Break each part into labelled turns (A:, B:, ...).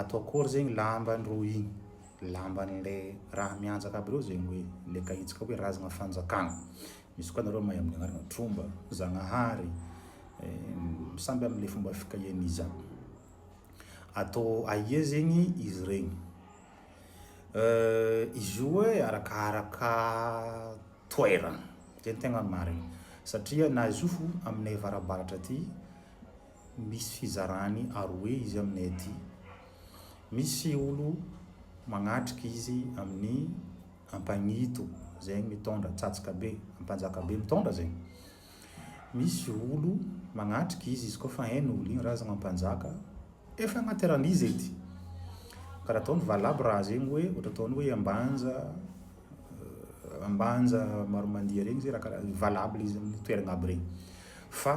A: Atao akory zegny lambany rô igny? Lamban'le raha mianjaka aby reo zegny hoe le kaitsika hoe razagna fanjakagna. Misy koa nareo mahay amin'ny agnarana tromba, zagnahary, samby amin'ny fomba fikahiany iza. Atao aia zegny izy regny? Izy io hoe arakaraka toerana, zay no tegna marigny satria na izy io fo aminay avarabaratra aty Misy fizarany aroe izy aminay aty. Misy olo magnatrika izy amin'ny Ampagnito zegny mitondra tsatska be, Ampanjaka be mitondra zegny. Misy olo magnatrika izy izy koa fa hainy olo igny razagna Ampanjaka, efa agnaty raha an'izy edy. Karaha ataon'ny valabo raha zegny hoe ohatra ataony hoe Ambanja, Ambanja Maromandia regny zay raha karaha valabo le izy amin'ny toeragna aby regny fa.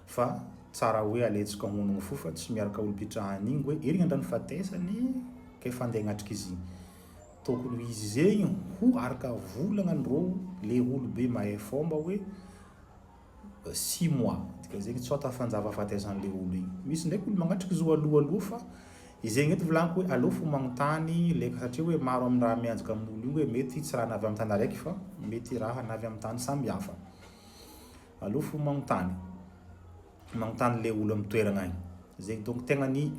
A: Fa tsara hoe aletsika ao mon fou fa tsy miaraka olompitrahany igny hoe iry ngandra ny fatesany ka efa andeha agnatrika izy igny tokony ho izy zegny ho araka volagna ny rô le olobe mahay fomba hoe six mois dika zegny tsota fanjava fatesany le olo igny misy ndraiky olo magnatrika izy io aloha aloha fa izegny eto volagiko hoe aleo fo magnontany le satria hoe maro aminy raha mianjaka aminy olo igny hoe mety tsy raha navy aminy tany araiky fa mety raha navy aminy tany samby hafa. Alou fo magnontany. Magnontany le olo am toeragna agny. Zegny donc tegna ny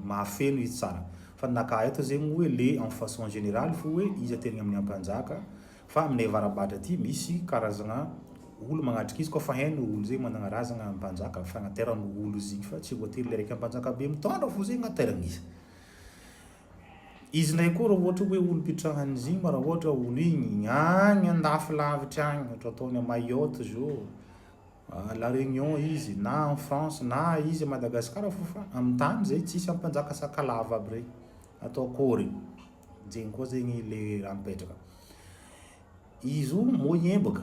A: mahafeno izy tsara. Fa ny naka ahy eto zegny hoe le en façon générale fo hoe iza tegna amin'ny ampanjaka fa aminay avarabahatra aty misy karazagna olo magnatrika izy koa fa hainy olo zegny managna razagna ampanjaka fagnateran olo izy igny fa tsy voatery le raiky ampanjaka be mitondra fo zegny ateragna izy. Izy indray koa raha ohatra hoe olom-pitrahan'i Zima, raha ohatra olo igny, agny an-dafy lavitry agny, ohatra ataony à Mayotte zao, à la Réunion izy, na en France, na izy à Madagascar fô fa amin'ny tany zay tsisy ampanjaka Sakalava aby regny, atao akôry? Zegny koa zegny le raha mipetraka. Izy o moyen bôka.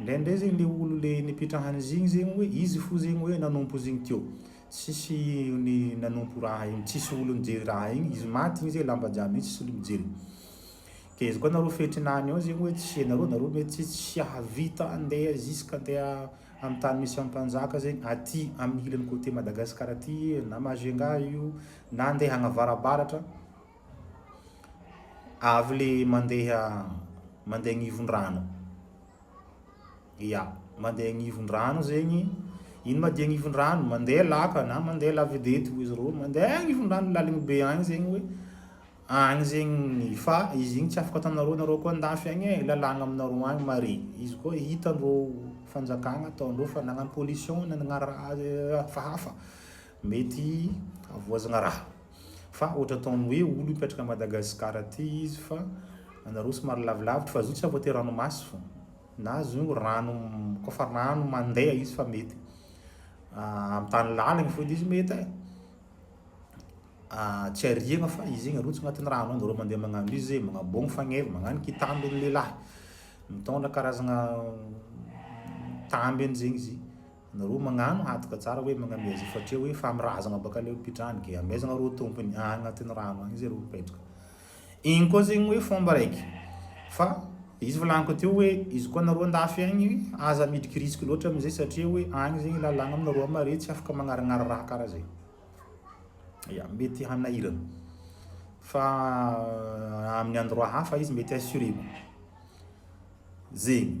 A: Ndraindray zegny le olo le nipetrahany izy igny zegny oe izy fo zegny oe nanompo izy igny teo. Tsisy ny nanompo raha igny, tsisy olo nijery raha igny, izy maty igny zay lamba jiaby mitsy tsisy olo mijery. Ke izy koa nareo fetriny any ao zegny oe tsisy anareo, nareo mety tsy tsy hahavita andeha jusque andeha am tany misy am mpanjaka zegny aty am ilany côté Madagascar aty na Majunga io na andeha agnavarabaratra, Avy le mandeha mandeha agnivon-drano. Ia, mandeha agnivon-drano zegny, ino ma dia agnivon-drano? Mandeha laka na mandeha lavidety hoy izy ireo, mandeha agnivon-drano laligny be agny zegny hoe agny zegny fa izy igny tsy afaka ataonareo, nareo koa an-dafy agny e, lalàgna aminareo agny mare. Izy koa hitan-dreo fanjakagna ataon-dreo fa nagnano pollution, nagnano raha hafa hafa. Mety havoazana raha. Fa ohatra ataony hoe olo mipetraka Madagascar aty izy fa anareo somary lavilavitra fa zao tsy afo aty ranomaso na zao rano ko fa rano mandeha izy fa mety amin'ny tany laliny fona izy mety e tsy ariagna fa izy zegny arotsaka agnatin'ny rano agny nareo mandeha magnano izy magnabogny fagneva magnano kitambo ny lehilahy mitondra karazagna tamby zegny izy Nareo magnano hatoka tsara hoe magnamia azy fatreo hoe famirazagna baka le mpidrany ke amezagna reo tompony agny agnatin'ny rano agny zay reo mipetraka igny koa zegny hoe fomba raiky fa izy volagniko teo hoe izy koa nareo andafy agny aza midriky risque loatra amizay satria hoe agny zegny lalagna aminareo amare tsy afaka magnarignary raha kara zay ya mety hanahiragna fa amin'ny endroit hafa izy mety assuré zegny.